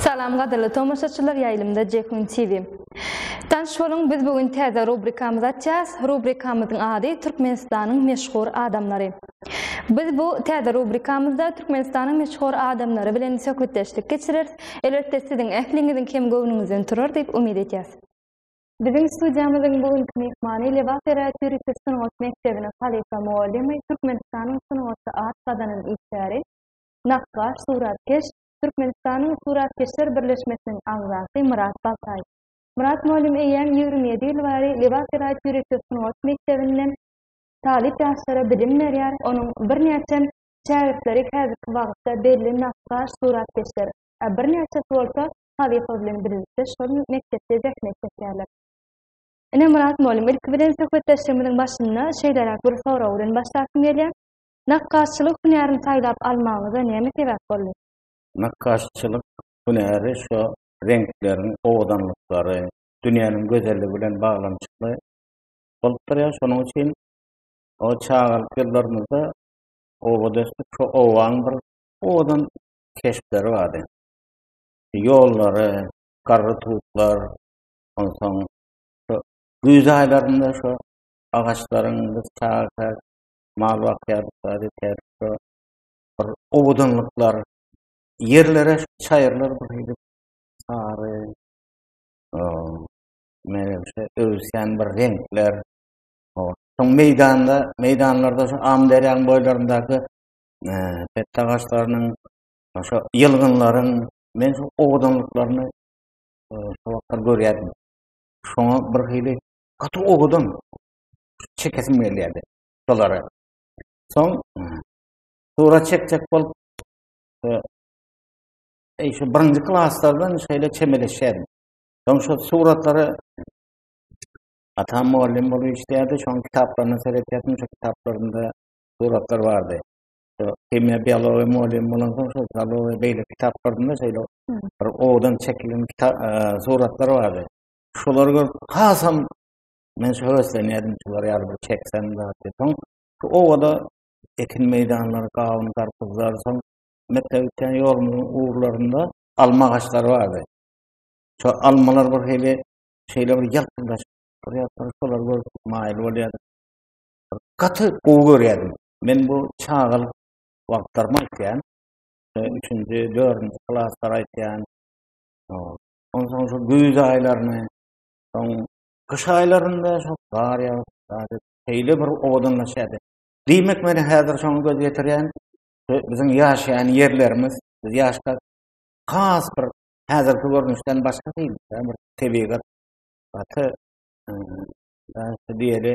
Salam gadyrly tomaşaçylar ýaýlymda Jekun TV. Tanş boluň biz bu gün täze rubrikamyzy açýas. Rubrikamyzyň ady Türkmenistanyň meşhur adamlary. Biz bu täze rubrikamyzda Türkmenistanyň meşhur adamlary bilen söhbetdeşlik geçireris. Elbetde siziň ähliňiziň hem göwnüňizden turar diýip umyt edýäs. Biziň studiýamyzyň bu günki myhmany Lebap eräterapist sungat mekdebiniň halypa mugallymy, Türkmenistanyň sungatda at gazanan işgäri, nakgaş, suratkeş, Türkmenistanyň Suratkeşler birleşmesiniň agzasy Myrat Baltaý. Myrat mugallym eýýäm ýigrimi ýedi ýyl bäri Lebap eräterapist sungat mekdebinde talyp ýaşlara bilim berýär, onuň birnäçe şägirtleri häzirki wagtda belli nakgaş, suratkeşler, a birnäçesi bolsa Sadykow bilen birlikde şol mekdepde zähmet çekýärler. Ine, Myrat mugallym, ilki bilen söhbetdeşligimiziň başynda şeýleräk bir sorag bilen başlasym gelýär. Nakgaşçylyk hünärini saýlap almagyňyza näme sebäp boldy? Nakgaşçylyk hünäri şu reňkleriň owadanlyklary, dünýäniň gözelligi bilen baglanyşykly bolup durýar. Şonuň üçin o çagalyk ýyllarymyzda obadaşda şu owaň bir owadan keşpleri bardy. ýollary, garry tutlar, onsoň güýz aýlarynda şu agaçlaryň biz çaga mal bakýardyk, bir owadanlyklar, ýerlere çaýyrlar gidip, sary, meýlemişe öwüsýän bir reňkler, soň meýdanda, meýdanlarda şu Amyderýanyň boýlaryndaky pette agaçlarynyň Şo ýylgynlaryň men şu owadanlyklaryny e, şo wagtlar görýärdim. Şoňa bir hili gaty owadan çekesim gelýärdi şolary. Soň e, sura çekjek bolup e, e, şu birinji klaslardan şeýle çemeleşýärdim. Soň şu suratlary atam mugallym bolup işleýärdi, şoň kitaplaryna seretýärdim, şu kitaplarynda suratlar bardy. Himiýa, biologiýa mugallym bolan soň şol biologiýa beýle kitaplarynda şeýle bir owadan çekilen kitap e, suratlar bardy. Şolary görüp hasam men şu höweslenýärdim şular ýaly bir çeksem zady. Soň şu owada ekin meýdanlary, gawun, garpyzlar, soň mekdep üçin ýolumyzyň ugrlarynda alma agaçlary bardy. Şu almalar bir hili şeýle bir ýalpyldaşyp durýardy, şolary görüp maýyl bolýardy. Gaty gowy görýärdim. Men bu çagalyk wagtlarymy aýtýan. Üçünji, dördünji klaslary aýtýan. Onsoň şu güýz aýlaryny, soň gyş aýlarynda şu gar ýagyp, şeýle bir owadanlaşýardy. Diýmek, men häzir şoňa göz ýetirýän. Biziň ýaşaýan ýerlerimiz, biz ýaşka has bir häzirki görnüşden başga diýil, bir tebigat gaty diýeli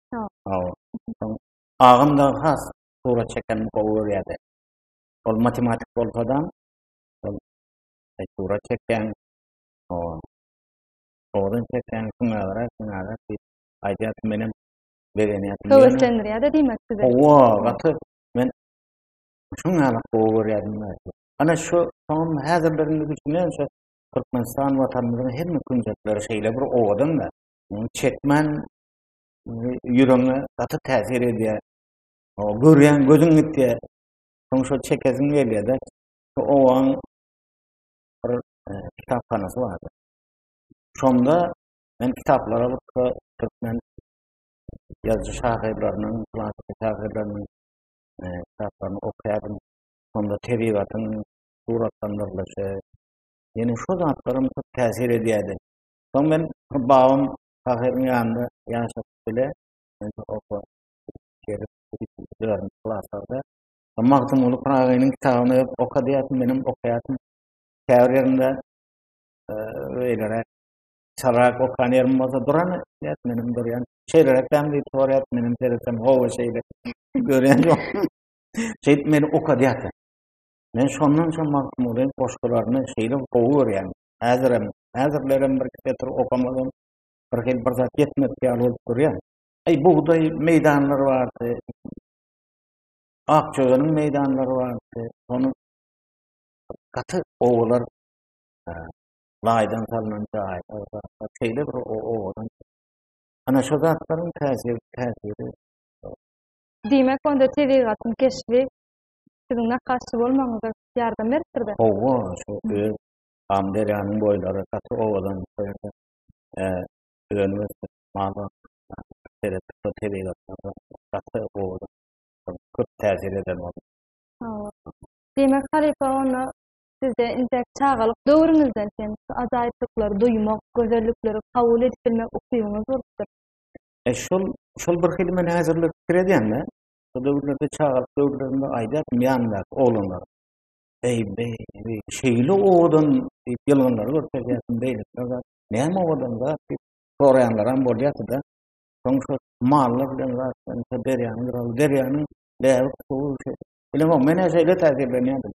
Agam da has surat çeken gowy görýärdi. Ol matematik bolsa-da, ol surat çeken, o Odan çeken kimlere, kimlere ki, aýdýar ki, menem begenýärdim. Höweslendirýär-de diýmek size. Owa, gaty men şuň ýaly gowy görýärdim. Ana şu soňam häzir birini düşünen şu Türkmenistan watanymyzyň hemme künjekleri şeýle bir owadan da. Muny çekmän ýüregiňe gaty täsir edýär. O görýän gözüň gitýär. Soň şol çekesiň gelýär-de. Şu owaň bir e, kitaphanasy bardy. Şonda men kitaplara baksa türkmen ýazyjy şahyrlarynyň, klassyk şahyrlarynyň e, kitaplaryny okaýardym. Şonda tebigatyň suratlandyrylyşy, ýene şu zatlarym köp täsir edýärdi. Soň men babam şahyryň ýanynda ýaşap bile, indi oba gelip, dörän klaslarda Magtymguly Pyragynyň kitabyny okadyýatyn, menem okaýatyn. Käbir ýerinde beýleräk, çalrak okan ýerim bolsa duran, diýýär, menem durýan. Şeýleräk däm diýip sorýar, menem seredýän, hawa şeýle. Görýän ýok. Şeýdip meni okadyýatyn. Men şondan soň Magtymgulyň goşgularyny şeýle gowy görýän. Häzirem, häzirlerem bir getir okamadan bir hil bir zat ýetmedi ýaly bolup durýar. Eý bugdaý meýdanlary bardy. Ak çözeniň meýdanlary bardy. Onu gaty owalar e, laýdan salnan jaýy. Şeýle bir owadan. Ana şu zatlaryň täsiri, täsiri. Diýmek, onda tebigatyň keşbi siziň nakaşçy bolmagyňyza ýardam beripdir-de. Owa, şu öz Amyderýanyň boýlary gaty owadan bu ýerde köp täsir eden boldy. Diýmek, halypa onda sizde intek çagalyk döwrüňizden hem şu ajaýyplyklary duýmak, gözellikleri kabul edip bilmek ukybyňyz bolupdyr. E, şol, şol bir hili men häzirler pikir edýän-de, şo döwürlerde çagalyk döwürlerimde aýdaryn ýanymdaky oglanlara. Eý, beý, beý, şeýle owadan diýip ýylgynlary görkezýärdim, beýlekler zat. Näme owadan zat diýip soraýanlaram bolýardy-da. Soň şo mallar bilen zat bilen derýanyň gyraly, derýanyň läbik suwy şeý. Bilemok, men-ä şeýle täsirlenýärdim.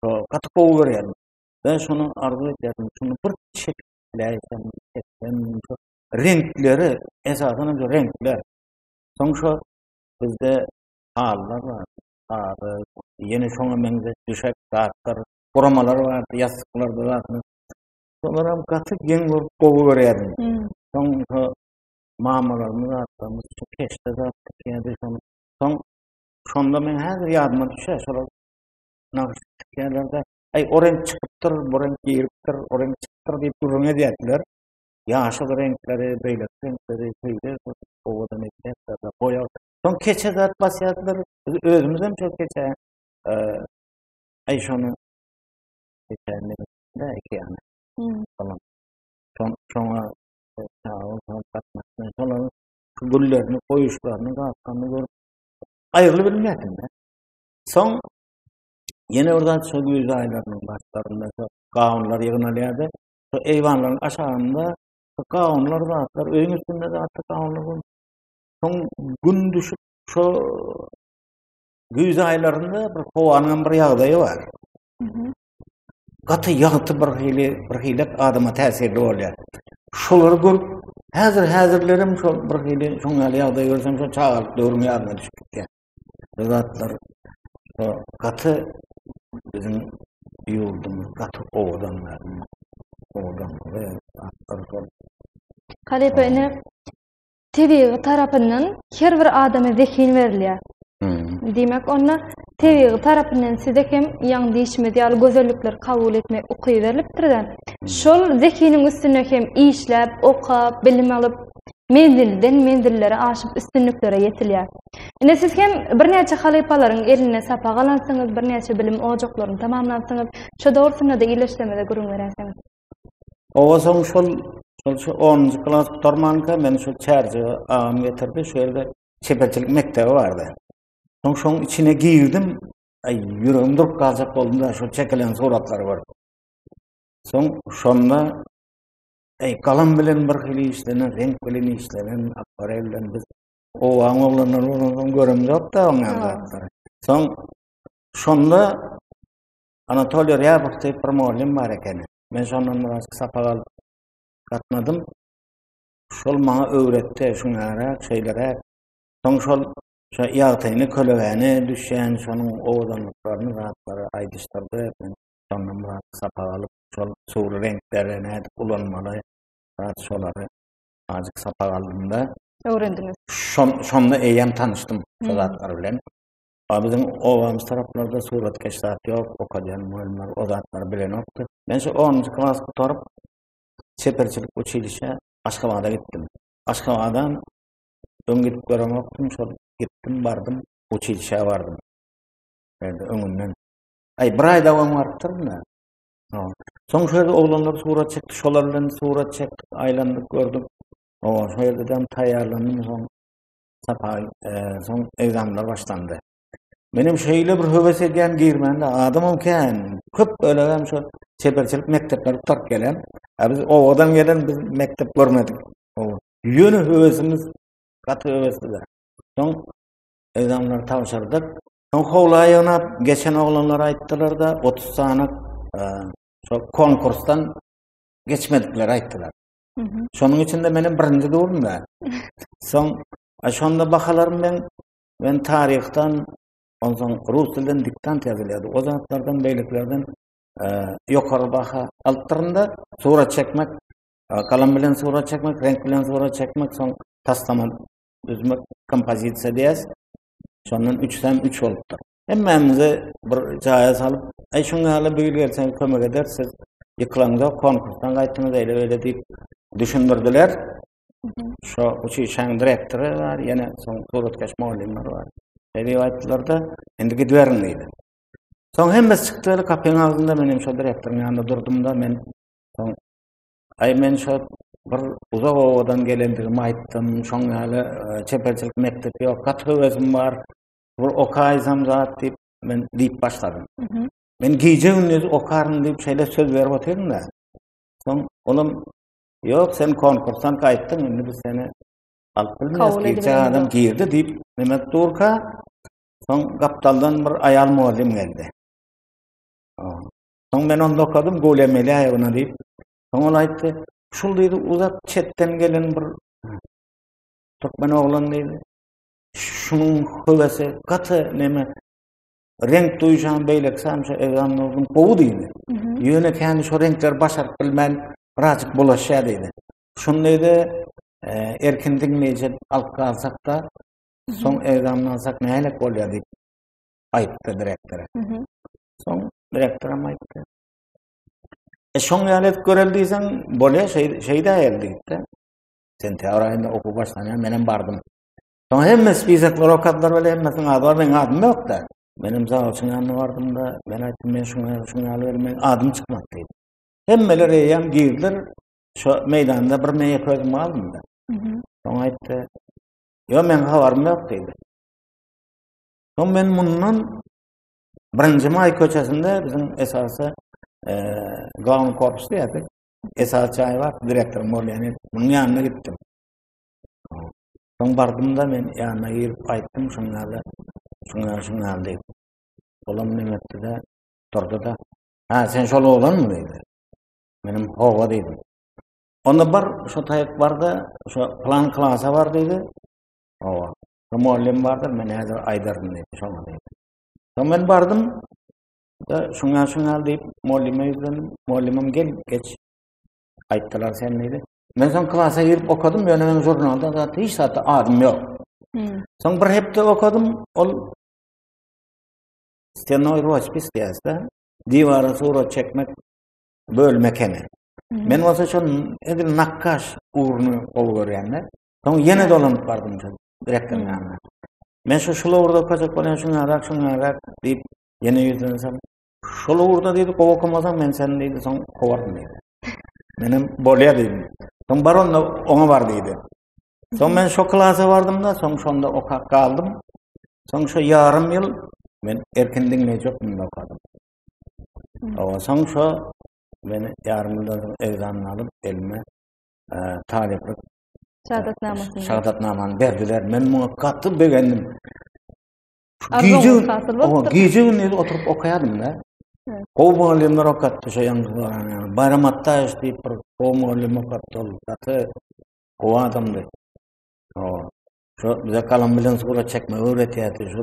Şo gaty gowy görýärdim. Ben şony arzuw edýärdim, şuny bir çekläýsem, çeksem, şo reňkleri, esasan hem şo reňkler. Soň şo bizde hallar bar, haly, ýene şoňa meňzeş düşek zatlar, guramalar bardy, ýassyklar bardy. Şolar hem gaty geň bolup gowy görýärdim. Hmm. Soň şu mamalarymyz atlarymyz şu keşde zat tikýärdi. Soň, soň şonda men häzir ýadyma düşýär, şolar nagyş tikýärlerde, aý o reňk çykypdyr, bu reňk giripdir, o reňk çykypdyr diýip gürrüň edýärdiler. Ýaşyl reňkleri, beýleki reňkleri, beýle owadan edýärler, boýa Son keçe zat basýardylar. Biz özümiz hem şol keçe eee şonu geçenli de iki ýana. Tamam. Son sona çağı son tapmasyn. Solan güllerini goýuşlaryny gapkany gör. Aýryly bilmedim de. Son Ýene bir zat şol güýz aýlarynyň başlarynda şol gawunlar ýygnalýardy. Şol eýwanlaryň aşagynda şol gawunlar zatlar öýüň üstünde zatlar gawunlar bolýar. Soň gün düşüp şu güýz aýlarynda bir howanyň bir ýagdaýy bar. Gaty ýagty bir hili bir hili adama täsirli bolýar. Şolary görüp häzir häzirlerim şol bir hili şoň ýaly ýagdaý görsem şo çagalyk döwrüm ýadyma düşüp gitýär. Bu zatlar şo gaty biziň ýurdumyz gaty owadan Owadan. Halepe ine tebigy tarapyndan her bir adama zehin berilýär. Diýmek, onda tebigy tarapyndan size hem ýaňy diýişimiz ýaly gözellikleri kabul etmek ukyby berilipdir-de, şol zehiniň üstünde hem işläp, okap, bilim alyp, menzilden menzillere aşyp, üstünliklere ýetilýär. Ine, siz hem birnäçe halypalaryň elinde sapak alansyňyz, birnäçe bilim ojaklaryny tamamlansyňyz. Şo dogrusynda-da ildeşlerimize gürrüň beräýseňiz. Owa soň şol şol şu 10-njy klas gutarmanka meni şu çärje agam getirdi, şu ýerde çeperçilik mekdebi bardy. Soň şoň içine girdim, aý ýüregim durup galjak boldum-da şu çekilen suratlary görüp. Soň şonda aý galam bilen bir hili işlenen, reňk bilen işlenen, akwarel bilen biz owaň oglanlary bolan göremzok-da oňa zatlary. Soň şonda Anatoliý Rýabow diýip bir mugallym bar ekeni. Men şondan biraz sapak alyp gatnadym. Şol maňa öwretdi, şuňara, şeýlere. Soň şol şo ýagtyny, kölegäni, düşýän şonuň owadanlyklaryny zatlary aýdyşdyrdy. Men şondan biraz sapak alyp, şol suwly reňkleri nädip ulanmaly, biraz şolary azajyk sapak aldym-da. Öwrendiňiz. Şon, şonda eýýäm tanyşdym şol zatlar bilen. A biziň obamyz taraplarda suratkeş zat ýok, okadýan mugallymlar o zatlary bilenokdy. Men şu 10-njy klas gutaryp, çeperçilik uçilişe Aşgabada gitdim. Aşgabada öň gidip göremokdym, şol gitdim, bardym, uçilişe bardym. Ýerde öňünden. Aý, bir aý dowam barypdyr mı? No. Soň şu ýerde oglanlar surat çekdi, şolar bilen surat çekdik, aýlandyk, gördük. O, şu ýerde hem taýýarlandyň soň. Sapaý, soň egzamlar başlandy. Menem şeýle bir höwes edýän girmände adamym kän. Köp ölegem şu çeperçilik mekdepleri gutaryp gelen. A biz owadan gelen biz mekdep görmedik. Owa. Ýöne höwesimiz gaty höwesli. Soň egzamlary tabşyrdyk. Soň howla ýygnap geçen oglanlar aýtdylar-da 30 sany e, şol konkursdan geçmedikleri aýtdylar. Şonuň üçin de meniň birinji durdum da. Soň şonda bahalarym men men taryhdan onsoň rus dilden diktant ýazylýardy. O zatlardan beýlekilerden e, ýokary baha alypdyrynda surat çekmek, e, galam bilen surat çekmek, renk bilen surat çekmek, soň taslama düzmek, kompozisiýa diýäs. Şondan 3 hem 3 bolupdyr. Hemmämizi bir jaýa salyp, "Aý şuň ýaly bu ýyl gelseň kömek ederis, siz ýykylaňda konkursdan gaýtdyňyz eýle-beýle" diýip düşündirdiler. Şo uçuşaň direktory bar, ýene soň suratkeş mugallymlar bar. Eýle aýtdylar-da, "Indi gidiberiň" diýdi. Soň hemmesi çykdy, eli kapyň agzynda men hem şo direktoryň ýanynda durdum-da, men soň "Aý men şo bir uzak obadan gelendigimi aýtdym, şoň ýaly e, çeperçilik mekdebi ýok, gaty höwesim bar, Bu okaýsam zat diýip, men diýip başladym. Men gije gündüz okaryn diýip şeýle söz berip otyryn da. Soň olam ýok, sen konkursdan gaýtdyň, indi biz seni alyp bilmeris. Gije adam girdi diýip, Mehmet Durka soň gapdaldan bir aýal mugallym geldi. Soň men onda okadym, gol emeli aýagyna diýip. Soň ol aýtdy, şul diýdi, uzak çetden gelen bir türkmen oglan diýdi. Şunuň höwesi gaty neme reňk duýjan beýleki samça egan bolgun gowy diýdi. Ýöne käni şu reňkler başaryp bilmän birazjyk bulaşýar diýdi. Şundayda e, erkin diňleýji alyp galsak-da, soň egamlansak nälik bolýar diýip aýtdy direktora. Soň direktoram aýtdy. E şoň ýaly edip görel diýseň, bolýar, şeýdä ýaly diýipdi. Sentýabr aýynda okuw başlanýar, men hem bardym. Soň hemme spisak rokatlary bilen hemmesini adyr, men adym yok da. Menem zaw üçin anna bardym da, men aýtdym men şuňa şuňa alyr, men adym çykmak diýip. Hemmeler eýem girdiler. Şu meýdanda bir meýe közüm aldym da. Soň aýtdy. Yo men habarym yok diýdi. Soň men mundan birinji maý köçesinde biziň esasy e, glavny korpus diýerdik. Esasy çaý bar, direktor Molýany. Munuň ýanyna gitdim. Soň bardym-da men ýanyna girip aýtdym şuň ýaly, şuň ýaly, şuň ýaly diýip. Olam näme etdi-de, durdy-da. Ha, sen şol oglanmy diýdi. Menem hawa diýdim. Onda bir şu taýyk barda, şu plan klasa bar diýdi. Hawa. Şu mugallym bardyr, men häzir aýdaryn diýdi, şoňa diýdi. Soň men bardym. Da şuň ýaly, şuň ýaly diýip, mugallyma ýüzlendim. Mugallymym gel, geç. Aýtdylar sen diýdi. Men soň klasa girip okadym, ýöne meniň žurnalda zat hiç zatda adym ýok. Soň bir hepde okadym, ol stenoý roçpis diýýärdi. Diwara surat çekmek bölüm ekeni. Men bolsa şol edil nakkaş ugruny gowy görýän-de. Soň ýene dolanyp bardym şol direktoryň ýanyna. Men şu şul ugurda okajak bolýan, şuňa rak, şuňa rak diýip, ýene ýüzlensem, Şol ugurda diýdi, gowy okamasaň men seni diýdi, soň kowaryn diýdi. Menem bolýar diýdim. Soň bar onda oňa bar diýdi. Soň men şo klasa bardym-da, soň şonda okap galdym. Soň şo ýarym ýyl men erkin diňleýjek munda okadym. Owa, soň şo meni ýarym ýyldan soň egzamyny alyp elime e, talyplyk şahadatnamasyny şahadatnamany berdiler. Men muňa gaty begendim. Gije gije gündüz oturyp okaýardym da. Gowy mugallymlar okatdy şo ýaňky barany. Bayram Attaýew diýip bir gowy mugallym okatdy ol. Gaty gowy adamdy. O, şo bize galam bilen surat çekmegi öwretýärdi. Şo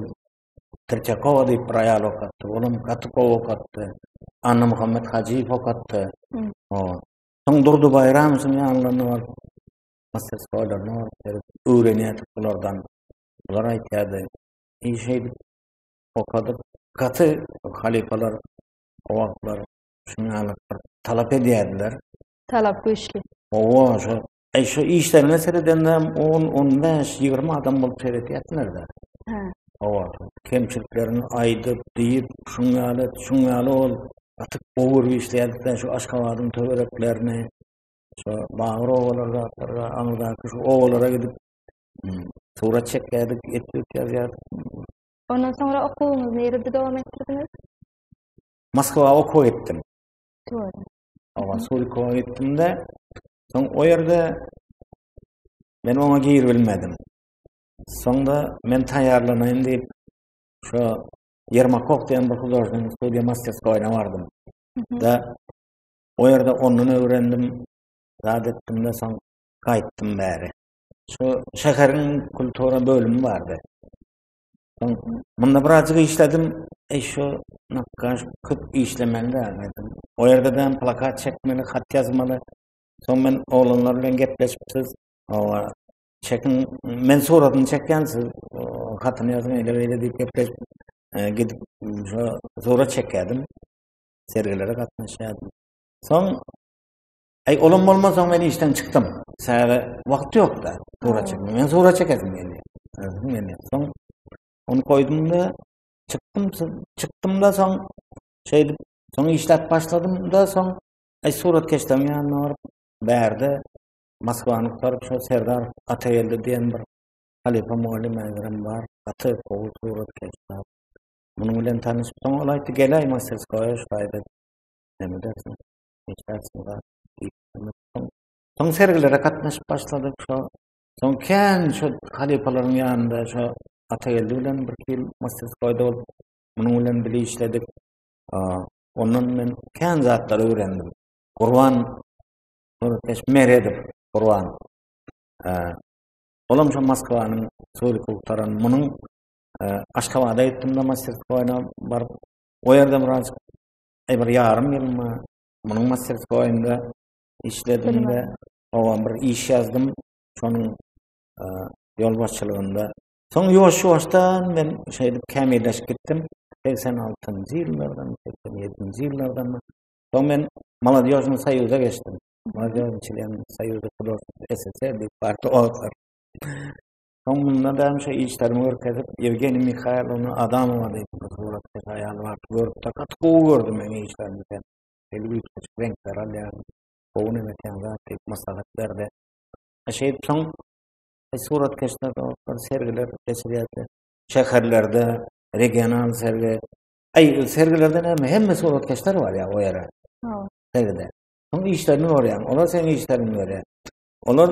Tirçakowa diýip bir aýal okatdy. Olam gaty gowy okatdy. Anna Muhammet Hajyýew okatdy. O, soň Durdy Baýramowyň ýanlaryna baryp, masterskoýlaryna baryp öwrenýärdik bulardan. Bular aýtýardy, iş edip, okadyp, gaty halypalar o wagtlar şunuň ýaly bir talap edýärdiler. Talap güýçli. Owa, şu Eý, şu işlerine seredende 10-15-20 adam bolup seredýärdiler-de. Hä. Owa, kemçiliklerini aýdyp, diýip, şuň ýaly, şuň ýaly ol gaty gowy işleýärdi, şu Aşgabadyň töwereklerini, şu bagyr owalardaky, aňyrdaky şu owalara gidip, Surat çekýärdik, etdik ýazýardyk. Ondan soňra okuwyňyzy nirede dowam etdirdiňiz? Moskwa okuw etdim. Doğru. Ama Surikowa gitdim-de, soň o ýerde men oňa girip bilmedim. Soňda men taýýarlanaýyn diýip, şu Yermakov diýen bir hudожник studiýa masterskoýuna bardym. Da o ýerde ondan öwrendim, zat etdim-de, soň gaýtdym bäri. şu şäheriň kultura bölümi bardy. Munda birazcık işledim. E şu nakkaş köp işlemeli dedim. O yerde ben plakat çekmeli, hat yazmalı. Son men oğlanlar bilen gepleşipsiz. O çekin men suratını çeken siz hatını yazın ele böyle deyip gepleşip e, gidip şu surat çekerdim. Sergilere katlaşıyordum. Son Aý, olam bolmansoň men işden çykdym. Säre wagt ýok-da. Sura çekdim. Men sura çekesim geldi. Özüm geldi. Soň onu koydum da çykdym, çykdym da soň şeýdip, soň işläp başladym da soň aý surat keşdem ýanyna baryp, bärde Moskwany gutaryp şo Serdar Atageldi diýen bir halifa mugallim mäzirem bar. Gaty gowy surat keşdem. Munuň bilen tanyşyp soň ol aýtdy, "Gel aý masterskoýa şaýda." Näme dersiň? Soň sergilere gatnaşyp başladyk. Şo soň kän şu halypalaryň ýanynda şu Atageldi bilen bir ýyl masjidkoýda bolup, munuň bilen bile işledik. Ondan men kän zatlary öwrendim. Gurban Nurkeş Meredow, Gurban. Olam şu Moskwanyň Suri Kultaran munuň Aşgabada gitdim-de masjidkoýna baryp, o ýerde biraz e, bir ýarym ýylmy munuň masterskoýunda işledim we oňa bir iş ýazdym. Şonuň e, ýolbaşçylygynda. Soň ýuwaş-ýuwaşdan men şeýdip kämilleşip gitdim. 86-njy ýyllardan, 87-nji ýyllardan. Soň men Maladýožnyň soýuza geçdim. Maladýožnyň çilen soýuzy Kudos SSR diýip bardy o wagtlar. Soň munda da şo işlerimi görkezip, Ýewgeniý Mihaýlowna Adamowa diýip bir suratkeş aýal bardy. Görüpdir. Gaty gowy gördüm meň işlerimi sen. Şeýle üýtgeşik reňkler alýaň. Gowy nenetäň zat diýip maslahat berdi. Şeýdip soň e, suratkeşler dostlar sergiler geçirýärdi. Şäherlerde regional sergi. Aý, sergilerde näme? Hemme suratkeşler bar ýa o ýere. Hawa. Sergide. Soň işlerini görýäň. Olar seň işlerini görýär. Olar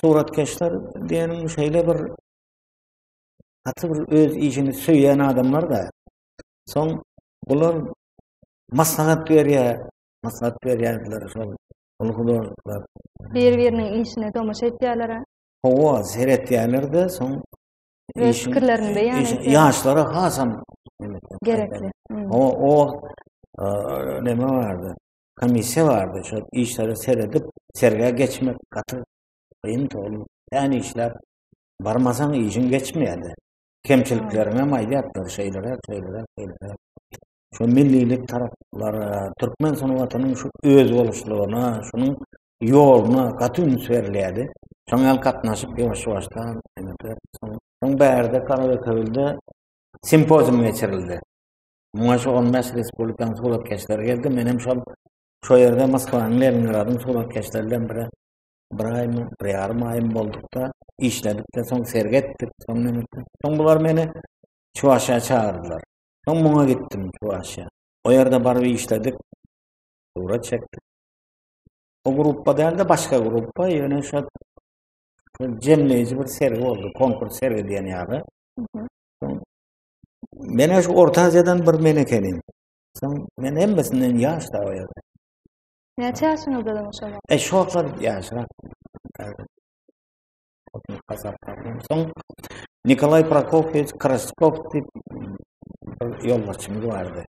Suratkeşler diýeniň şeýle bir gaty bir öz işini söýen adamlar da. Soň bular maslahat berýär, maslahat berýärdiler şol ol hudoluklar. Bir-biriniň işine tomaşa etýärler. Hawa, seretýärler-de, soň iş fikirlerini beýan etýär. Ýaşlara hasam gerekli. O o neme bardy? komissiýa bardy, şol işlere seredip, sergä geçmek gaty gyn togry. Än işler barmasaň işin geçmeýärdi. Kemçilikleriňe maýýatdy, şeýlere, şeýlere, şeýlere. Şu millilik taraplara, türkmen sungatynyň şu özboluşlygyna, şunuň ýoluna gaty üns berilýärdi. Şoň ýaly gatnaşyp ýuwaş-ýuwaşdan, soň bärde Karaköwülde simpozium geçirildi. Muňa şu on beş respublikanyň suratkeşleri geldi. Men hem şol şu ýerde Moskwanyň Leningradyň suratkeşleri bilen bir bir aýmy, bir ýarym aýym boldukda, işledikde, soň sergi etdik, soň näme Soň bular meni Çuwaşa çagyrdylar. Soň muňa gitdim Çuwaşa. O ýerde baryp işledik. Surat çekdik. O gruppa dälde başga gruppa, ýöne şu jemleýji bir sergi boldy, konkurs sergi diýen ýaly. Mene şu Orta Aziýadan bir men ekenim. Sen men hemmesinden ýaş da o ýerde. Näçe ýaşyňyzda da şoňa? E şu wagtlar ýaşrak. Soň Nikolay Prokofiewiç Kraskov diýip bir ýolbaşçymyz bardy.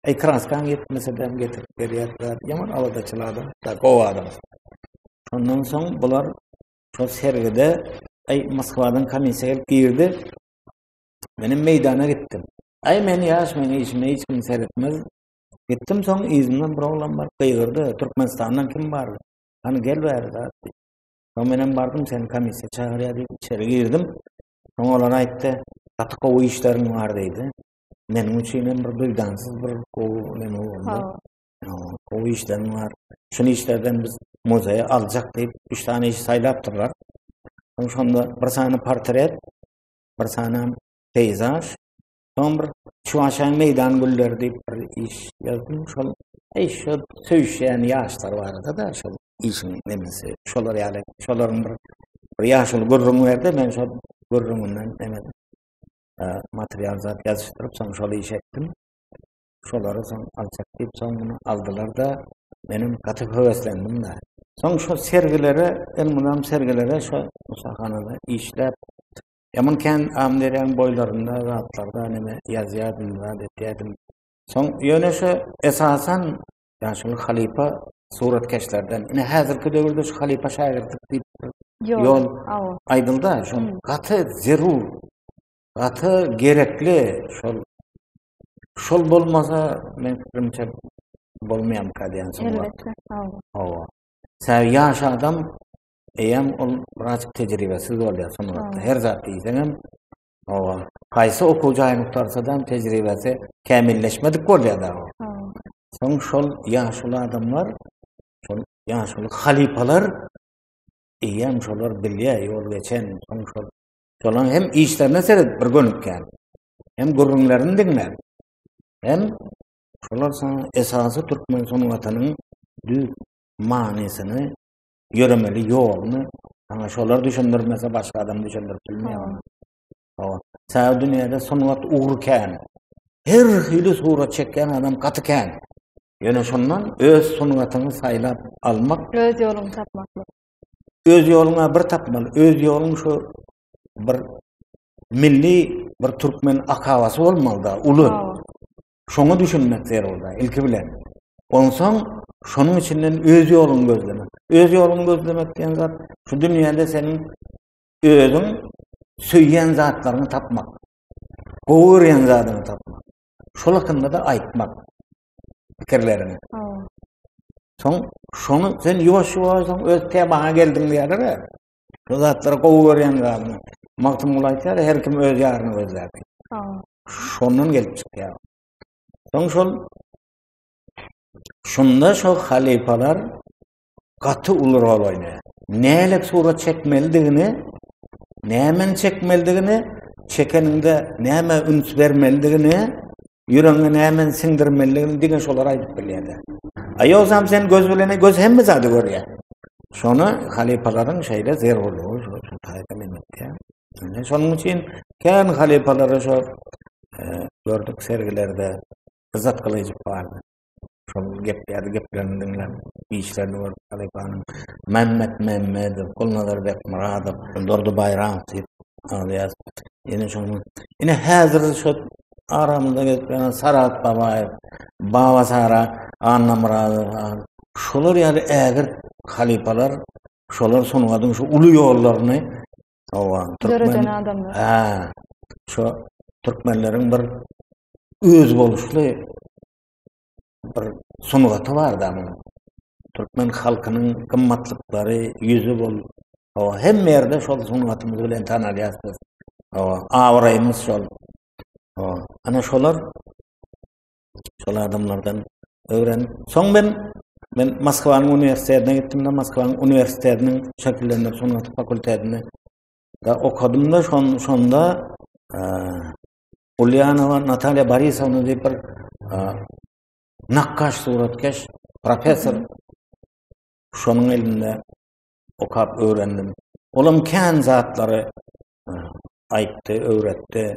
E Kraskan ýetmese de getirip berýärler. Ýaman aladaçyl adam, da gowy adam. Ondan soň bular şol sergide Ay Moskwadan komissiýa gelip girdi. Menem meýdana gitdim. Aý men ýaş, men işime hiç kim seretmez. Gitdim soň yzymdan bir oglan bar, gygyrdy, Türkmenistandan kim bar? Hany gel bäri zat. Soň menem bardym, seni komissiýa çagyrýar diýip içeri girdim. Soň olar aýtdy, gaty gowy işleriň bar diýdi. Meniň üçin hem bir duýdansyz bir gowy neme boldy. Gowy işleriň bar. Şu işlerden biz muzeýe aljak diýip, üç sany iş saýlapdyrlar. Soň şonda bir sany portret, bir sanam peyzaj, soň bir Çuwaşaýyň meýdan gülleri diýip bir iş ýazdym. Şol eý şol söýüşýän ýaşlar barada-da şol işiň nemesi. Şolar ýaly, şolaryň bir bir ýaşuly gürrüň berdi, men şol gürrüňinden neme material zat ýazyşdyryp, soň şol iş etdim. Şolary soň aljak diýip soň muny aldylar-da, menem gaty höweslendim-de. Soň şo sergilere, elmydam sergilere şo ussahana-da işläp, Ýaman kän Amyderýanyň boýlarynda zatlarda näme ýazýardym, zat etýärdim. Soň ýöne şo esasan ýaşuly halypa suratkeşlerden. Ine häzirki döwürde şu halypa şägirtlik diýip ýol aýdylda, şo gaty zerur, gaty gerekli şol Şol bolmasa, men fikrimçe bolmaýamka diýen soň. Elbetde, hawa. Hawa. Sen ýaş adam eýem ol biraz tejribesiz bolýar sungatda. Her zat diýseň hem hawa. Haýsy okuw jaýyny tutarsa-da tejribesi kämilleşmedik bolýar da. Soň şol ýaşuly adamlar, şol ýaşuly halypalar eýem şolar bilýär, ýol geçen, soň şol Şolaň hem işlerine seredip bir gönükýän. Hem gürrüňlerini diňläp. Hem şolar saň esasy türkmen sungatynyň düz manysyny, ýöremeli ýoluny saňa şolar düşündirmese başga adam düşündirip bilmeýär. Hawa. Saňa dünýäde sungat ugry kän. Her hili surat çekýän adam gaty kän. Ýöne şondan öz sungatyňy saýlap almak, öz ýoluňy tapmak. öz ýoluňa bir tapmaly, öz ýoluň şu bir milli bir türkmen akabasy bolmalyda, uly. Şoňa düşünmek zerurda, ilki bilen. Onsoň şonuň içinden öz ýoluňy gözlemek. Öz ýoluňy gözlemek diýen zat şu dünýäde seniň özüň söýýän zatlaryňy tapmak. Gowy görýän zadyňy tapmak. Şol hakynda da aýtmak. pikirlerini. Soň şony sen ýuwaş ýuwaş soň öz temaňa geldiň diýerler. Şu zatlary gowy görýän zadyny. Magtym Gul aýtýar, her kim öz ýaryny gözlär. Şondan gelip çykýar. Soň şol şunda şol halifalar gaty uly rol oýnaýar. Nälet surat çekmelidigini, nämeni çekmelidigini, çekeniňde nämä üns bermelidigini, ýüregiňe nämeni siňdirmelidigini diňe şolar aýdyp bilýärler. A ýogsam sen göz bilen göz hemme zady görýär. Şony halypalaryň şeýle zerurlygy şu şu taýda menetýär. Indi şonuň üçin kän halypalary şu e, gördük sergilerde yzzat gylyjyp bardy. şol gepleýärdi, geplerini diňläp, işlerini görüp halypanyň Mämmet Mämmedow, Gulnazar Bekmyradow, Durdy Baýramow diýip alýar. Ýene şoň ýene häzir şu aramyzda gezip ýören Sarat Babaýew, Baba Sara, Anna Myradow, şolar ýaly ägirt halypalar şolar sungatyň şu uly ýollaryny Hawa. Döreden adamlar. Ha. Şu türkmenleriň bir öz boluşly bir sungaty bar da munuň. Türkmen halkynyň gymmatlyklary, ýüzi bol. Hawa, hem ýerde şol sungatymyz bilen tanalýas biz. Hawa, abraýymyz şol. Hawa, ana şolar şol adamlardan öwrenip soň men men Moskwanyň uniwersitetine gitdim-de Moskwanyň uniwersitetiniň şekillendiriş sungaty fakultetinde da okadym-da şon şonda e, Ulýanowa Natalýa Borisowna diýip bir e, nakgaş suratkeş professor şonuň elinde okap öwrendim. Olam kän zatlary e, aýtdy, öwretdi.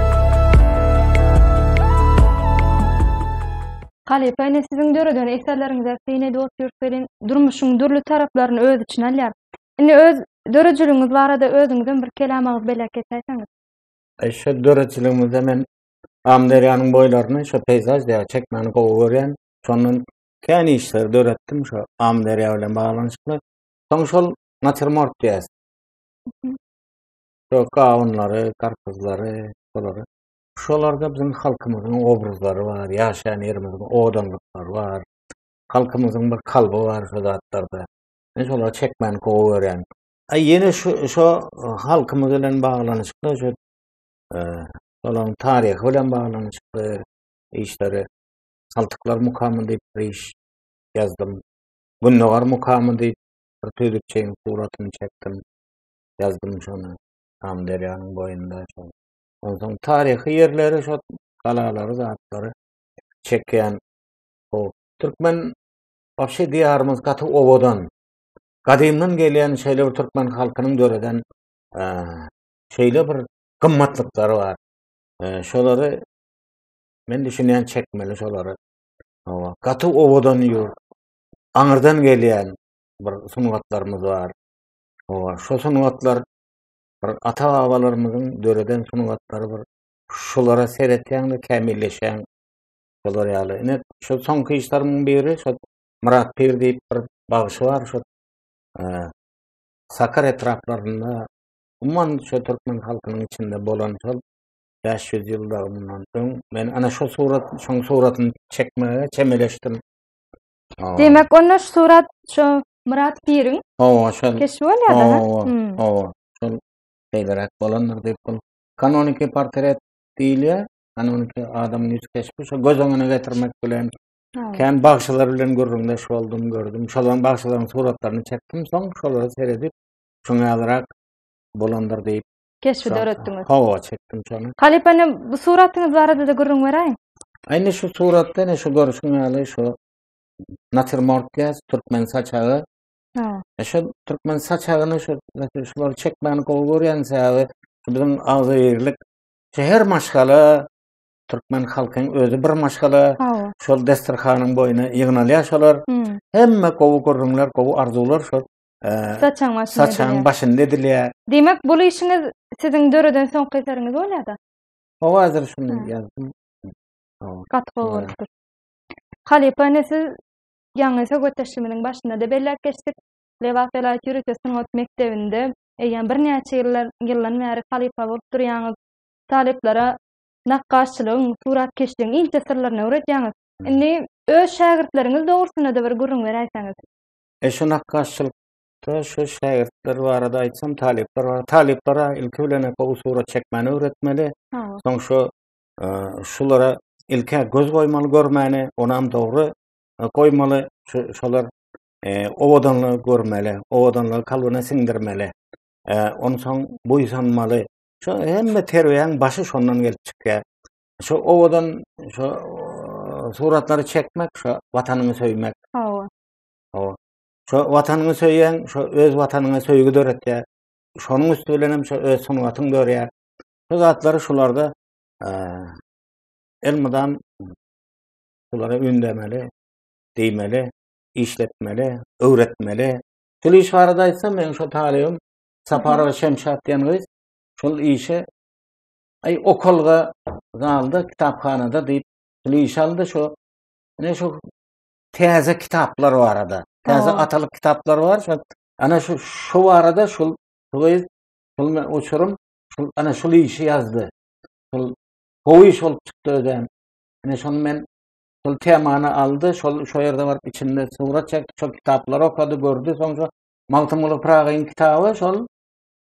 Halypa ene siziň döreden eserleriňize syn edip otyrs welin, durmuşyň dürli taraplaryny öz içine alýar. Indi öz döredijiligiňiz barada özüňizem bir kelam agyz belek geçäýseňiz. Şu döredijiligimizde men Amyderýanyň boýlaryny şu peýzaž diýip çekmäni gowy görýän. Şondan kän işleri döretdim şu Amyderýa bilen baglanyşykly. Soň şol natiurmort diýýäs. Şo gawunlary, garpyzlary, şolary. Şolarda biziň halkymyzyň obrazlary bar, ýaşaýan ýerimiziň owadanlyklary bar. Halkymyzyň bir kalby bar şu zatlarda. Men şolary çekmäni gowy görýän. Aý ýene şu şo halkymyz bilen baglanyşykly şu e, olaryň taryhy bilen baglanyşykly işleri Saltyklar mukamy diýip bir iş ýazdym. Gündogar mukamy diýip bir tüýdükçeýin suratyny çekdim. ýazdym şony. Amyderýanyň boýunda şol. Onsoň taryhy ýerleri, şol galalary, zatlary çekýän. O türkmen wagşy diýarymyz gaty owadan. Gadymdan gelýän şeýle bir türkmen halkynyň döreden şeýle bir gymmatlyklary bar. Şolary men düşünýän çekmeli şolary. Hawa, gaty owadan ýurt. Aňyrdan gelýän bir sungatlarymyz bar. Hawa, şo sungatlar bir ata-babalarymyzyň döreden sungatlary bir şolara seretýäňde kämilleşýäň. Şolar ýaly. Ine, şol soňky işlerimiň biri şol Myrat Pir diýip bir bagşy bar, şol Sakar etraplarynda, umuman şu türkmen halkynyň içinde bolan şol 500 ýylda mundan öň men ana şu surat, şoň suratyny çekmäge çemeleşdim. Demek, onda şu surat şu Myrat Piriň Hawa, şol. Keşbi bolýar-da. Hawa, hmm. hawa. Şol beýleräk bolandyr diýip bul. Kanoniki portret diýilýär. Kanoniki adamyň ýüz keşbi şo göz öňüne getirmek bilen Kän bagşylar bilen gürrüňdeş boldum, gördüm. Şolan bagşylaryň suratlaryny çekdim, soň şolara seredip, şoňa ýalyrak bolandyr diýip keşbi Şa- döretdiňiz. Hawa çekdim şony. Halypa indi bu suratyňyz barada-da gürrüň beräýiň. Indi şu suratda ne şu görüşün ýaly şu natürmort diýýäs, türkmen saçagy. Ha. E şu türkmen saçagyny şu şu- şulary çekmäni gowy görýän sebäbi şu biziň agzybirlik şu her maşgala türkmen halkyň özi bir maşgala Hawa. şol desterhanyň boýuna ýygnalýar şolar. Hmm. Hemme gowy gürrüňler, gowy arzuwlar şol Saçaň başynda edilýär. Saçaň başynda edilýär. Diýmek, bul işiňiz siziň döreden soňky eseriňiz bolýar-da? O hazır şuny ýazdym. Gaty gowy bolupdyr. Halypa ine siz ýaňy söhbetdeşligimiziň başynda-da belläp geçdik. Lebap welaýat ýörite sungat mekdebinde eýýäm birnäçe ýyllar ýyldan bäri halypa bolup durýaňyz. Talyplara nakgaşçylygyň, suratkeşligiň inçe syrlaryny öwredýäňiz. Indi öz şägirtleriňiz dogrusynda-da bir gürrüň beräýseňiz. E şu nakgaşçylyk Şol şu şägirtler barada aýtsam, talyplar bar. Talyplara ilki bilen gowy surat çekmäni öwretmeli. Soň şu e, şulara ilki göz goýmaly görmäni, onam dogry e, goýmaly. Şolar e, owadanlygy görmeli, owadanlygy kalbyna siňdirmeli. Ondan soň buýsanmaly. Şu hemme terbiýäň başy şondan gelip çykýar. Şu owadan şu suratlary çekmek, şu watanyňy söýmek. Hawa. Şo watanyňy söýýäň, şo öz watanyňa söýgi döretýär. Şonuň üsti bilen hem şo öz sungatyň dörýär. Şu zatlary şularda elmydam şulara ündemeli, diýmeli, işletmeli, öwretmeli. Şul iş barada aýtsam, men şo talibim Saparowa Şemşat diýen gyz şol işe aý okalga zalda kitaphanada diýip, şul iş aldy şo. Ne şo täze kitaplar barada. Täze Oo. atalyk kitaplar bar. Şo ana şu şu barada şul şuly şul men uçurum. Şul ana şul işi ýazdy. Şul gowy iş bolup çykdy özem. Ana şony men şul temany aldy. Şol şu ýerde baryp içinde surat çekdi. Şol kitaplary okady, gördi. Soň şu Magtymguly Pyragyň kitaby şol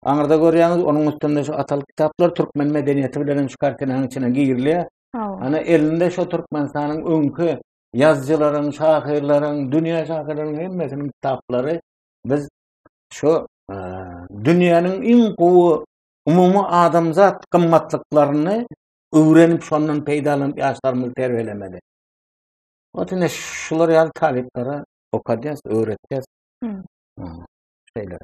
Aňyrda görýäňiz, onuň üstünde şu atalyk kitaplar türkmen medeniýeti bilen hem şu kartinaň içine girilýär. Ana elinde şu Türkmenistanyň öňki ýazyjylaryň, şahyrlaryň, dünýä şahyrlaryň hemmesiniň kitaplary biz şu e, dünýäniň iň gowy umumy adamzat gymmatlyklaryny öwrenip şondan peýdalanyp ýaşlarymyzy terbiýelemeli. Otine şular ýaly talyplara okadýas, öwretýäs. Hmm. Şeýle.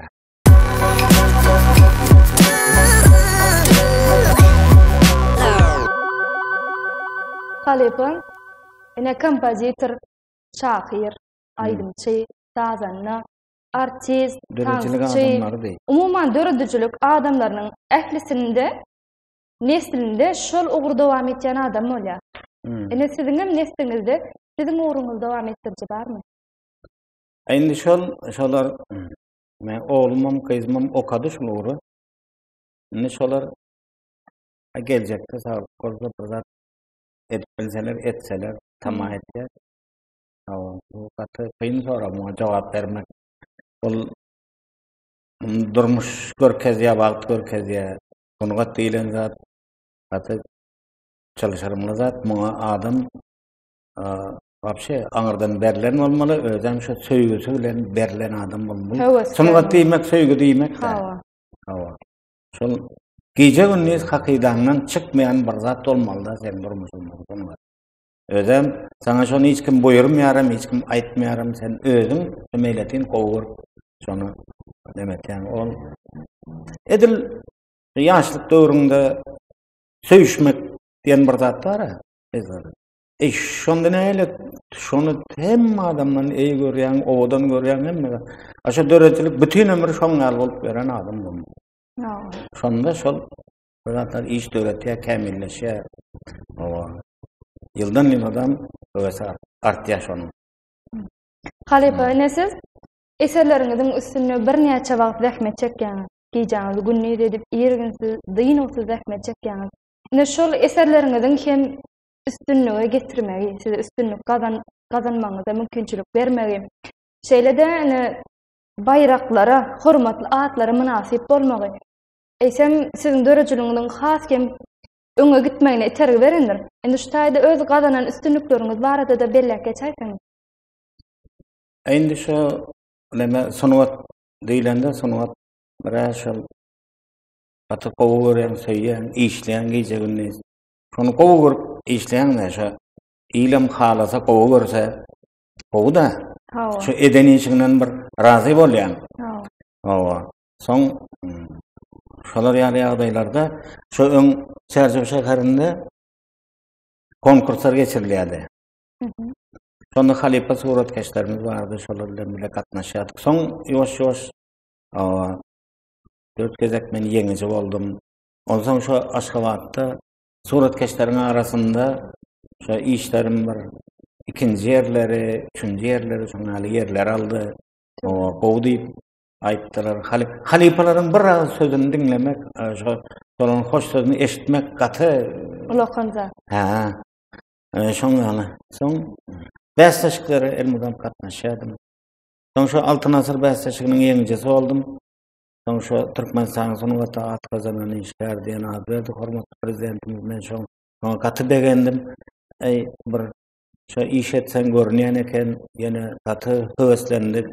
Halypam ine kompozitor, şahyr, aýdymçy, sazanda, artist, tansçy. Umuman döredijilik adamlarynyň ählisinde neslinde şol ugur dowam etýän adam bolýar. Hmm. Ine siziň hem nesliňizde siziň ugruňyzy dowam etdiriji barmy? Indi şol şolar hmm, Men oglumam, gyzymam okady şul ugry. Indi şolar geljekde sag bolsa bir zat edip bilseler, etseler, tamah etýär. Hawa, bu gaty kyn sorag, muňa jogap bermek. Ol durmuş görkezýär, wagt görkezýär. Sungat diýlen zat gaty çalyşarymly zat. Muňa adam Wapşe aňyrdan berlen bolmaly, özem şu söýgüsi bilen berlen adam bolmaly. Sungat diýmek söýgi diýmek. Hawa. Hawa. Şol gije gündiz hakydaňdan çykmaýan bir zat bolmalyda sen durmuşyňda sungat. Özem sana şony hiç kim buýurmaýaram, hiç kim aýtmaýaram, sen özüň meýletin gowy görüp şony demetýän. Ol edil ýaşlyk döwründe söýüşmek diýen bir zat bar-a. Eý, şonda näle? Şony hemme adamdan eý görýän, owadan görýän hemme. Aşa döredilik bütün ömür şoň ýaly bolup beren adam bolmaly. Şonda şol zatlar iş döretýär, kämilleşýär. Owa. Ýyldan ýyl adam öwesi artýar şonuň. Halypa, ine siz eserleriňiziň üstünde birnäçe wagt zähmet çekýäňiz. Gijäňiz gündiz edip, irginsiz, dynuwsyz zähmet çekýäňiz. Ine şol eserleriňiziň hem üstünlige getirmegi, size üstünlik gazan, gazanmagyňyza mümkinçilik bermegi, şeýle-de ine baýraklara, hormatly atlara mynasyp bolmagy, eýsem siziň döredijiligiňiziň has hem öňe gitmegine itergi berendir. Indi şu taýda öz gazanan üstünlikleriňiz barada-da belläp geçäýseň. Indi şu näme sungat diýlende sungat bir şol gaty gowy görýän, söýýän, işleýän gije-gündiz. Şony gowy görüp işleýäňde şo ilem halasa gowy görse gowy da. Hawa. Şu eden işiňden bir razy bolýaň. Hawa. Hawa. Soň hmm, şolar ýaly ýagdaýlarda şu öň Çärjew şäherinde konkurslar geçirilýärdi. Mhm. Şonda halypa suratkeşlerimiz bardy, şolar bilen bile gatnaşýardyk. Soň ýoş-ýoş dört gezek men ýeňiji boldum. Onsoň şu Aşgabatda suratkeşleriň arasynda şu işlerim bir ikinji ýerleri, üçünji ýerleri, şoň ýaly ýerler aldy. O, gowy diýip aýtdylar. Haly, halypalaryň bir az sözüni diňlemek, şu şolaryň hoş sözüni eşitmek gaty ulakan zat. Ha. Şoň ýaly. Soň bäsleşiklere elmydam gatnaşýardym. Soň şu Altyn asyr bäsleşiginiň ýeňijisi boldum. Soň şu Türkmenistanyň sungata at gazanan işgär diýen at berdi hormatly Prezidentimiz. Men şoň şoňa gaty begendim. Eý, bir şo iş etseň görünýän eken, ýene gaty höweslendik.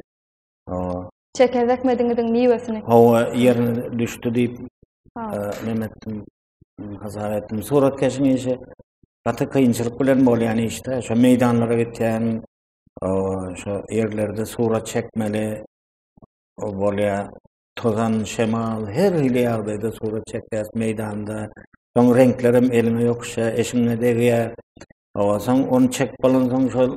Hawa. Çeken zähmediňiziň miwesini. Hawa, ýerine düşdi diýip, neme etdim, hasap etdim. Suratkeşiň işi gaty kynçylyk bilen bolýan işde. Şo meýdanlara gitýäň, şo ýerlerde surat çekmeli, bolýar. Tozan, şemal, her hili ýagdaýda surat çekýäs meýdanda. Soň reňklerem eliňe ýokuşýa, eşiňe degýär. Owa, soň ony çekip bolansoň şol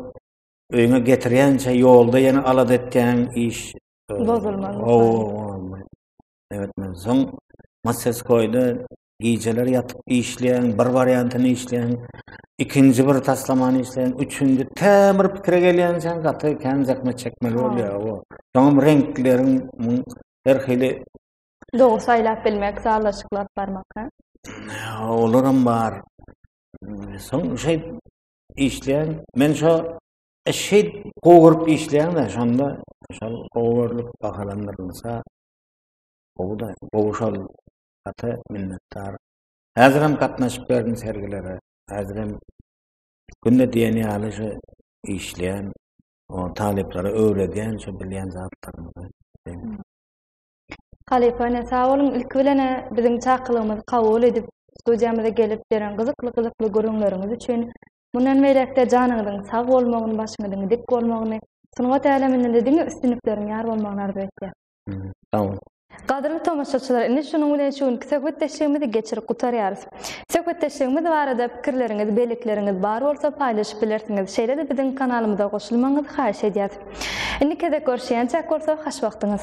öýüňe getirýänçä ýolda ýene alada etýän iş bozulmaz. Owa, owa. Evet, men soň Maseskoýda Gijeler ýatyp işleýän, bir wariantyny işleýän, ikinji bir taslamany işleýän, üçünji tä bir pikire gelýänçäň gaty kän zähmet çekmeli bolýar. O. Soňam reňkleriň her hili Dogry saýlap bilmek, sazlaşyklap barmak. Olaram bar. Soň şeý işleýän, men şo e, şeý gowy görüp işleýän-de, şonda şol gowy görlüp bahalandyrylsa, gowy da, gowy şol gaty minnetdar. Häzirem gatnaşyp berdim sergilere. Häzirem günde diýen ýaly şu işleýän, o talyplara öwredýän şu bilýän zatlarymyzy. Halypa ene sag boluň. Ilki bilen biziň çakylygymyzy kabul edip, studiýamyza gelip beren gyzykly-gyzykly gürrüňleriňiz üçin. Mundan beýläk-de janyňyzyň sag bolmagyny, başyňyzyň dik bolmagyny, sungat äleminde-de diňe üstünlikleriň ýar bolmagyny arzuw etýäs. Sagboluň. Gadyrly tomaşaçylar indi şunuň bilen şu günki söhbetdeşligimizi geçirip gutarýarys. Söhbetdeşligimiz barada pikirleriňiz, bellikleriňiz bar bolsa paýlaşyp bilersiňiz, şeýle-de biziň kanalymyza goşulmagyňyzy haýyş edýäs. Indi gezek görüşýänçäk bolsa hoş wagtyňyz.